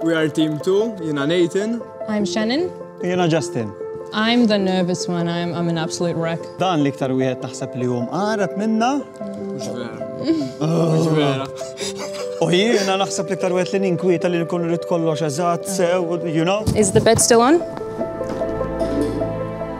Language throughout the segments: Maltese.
We are team 2, jina Nathan. I'm Shannon. Jina Justin. I'm the nervous one, I'm, I'm an absolute wreck. Dan li ktar wieħed taħseb li hum għarab minna. Mhux vera. Mhux vera. U jiena naħseb li ktar wieħed li ninkwieta li nkun rrid kollox eżatt sew, you know? Is the bed still on?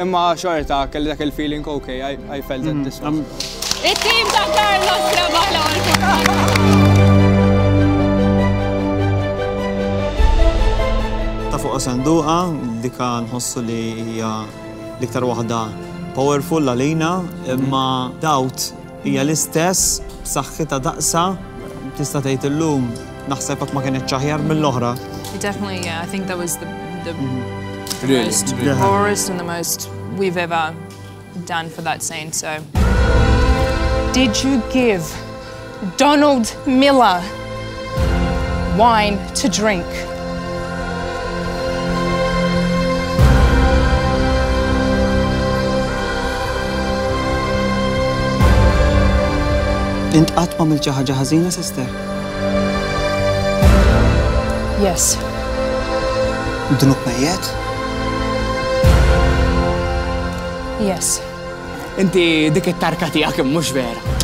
Imma xorta kelli dak il-feeling ok, I felt that this one. Il-team ta' Carlos rebaħ l-ewwel Ta' fuq sanduqa, dika nħossu li hija l-iktar waħda powerful għalina, imma dawt Hija l-istess, b'saħħitha daqsha, tista' tgħid illum, naħseb qatt ma kinitx aħjar mill-oħra. Definitely, yeah, I think that was the, the, the really, most really. rawest and the most we've ever done for that scene, so. Did you give Donald Miller wine to drink. Int qatt ma milċi ħaġa ħażina, sister? Yes. Dnub mejjet? Yes. Inti dik it-tarka tiegħek mhux vera.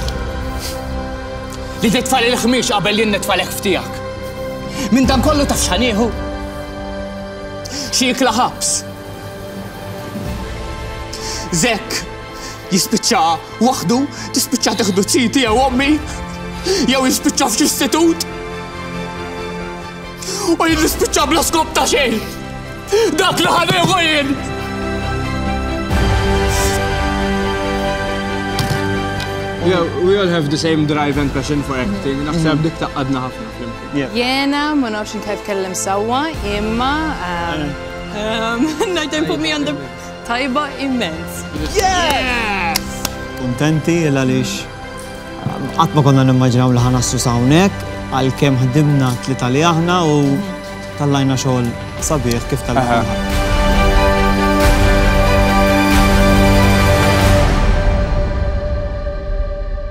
Li titfa' l-ħmieġ qabel jien nitfa' l-ħef tiegħek. Minn dan kollu taf x'ħa nieħu? Xi ikla ħabs. Zekk jispiċċa waħdu, tispiċċa teħdu ċiti jew ommi, jew jispiċċa f'xi istitut. U jien nispiċċa bla skop ta' xejn. Dak li ħaneħu jien. Yeah, we all have the same drive and passion for acting. Naħseb mm. dik taqqadna ħafna flimkien. Jena, ma nafx inti tkellem sewwa, imma um, um, Night and Put Me on the Tajba immens. Yes! Kontenti il għaliex Qatt ma konna nimmaġinaw li ħa naslu s'hawnhekk għalkemm ħdimna tlieta li aħna u tallajna xogħol sabiħ kif tal-aħħar.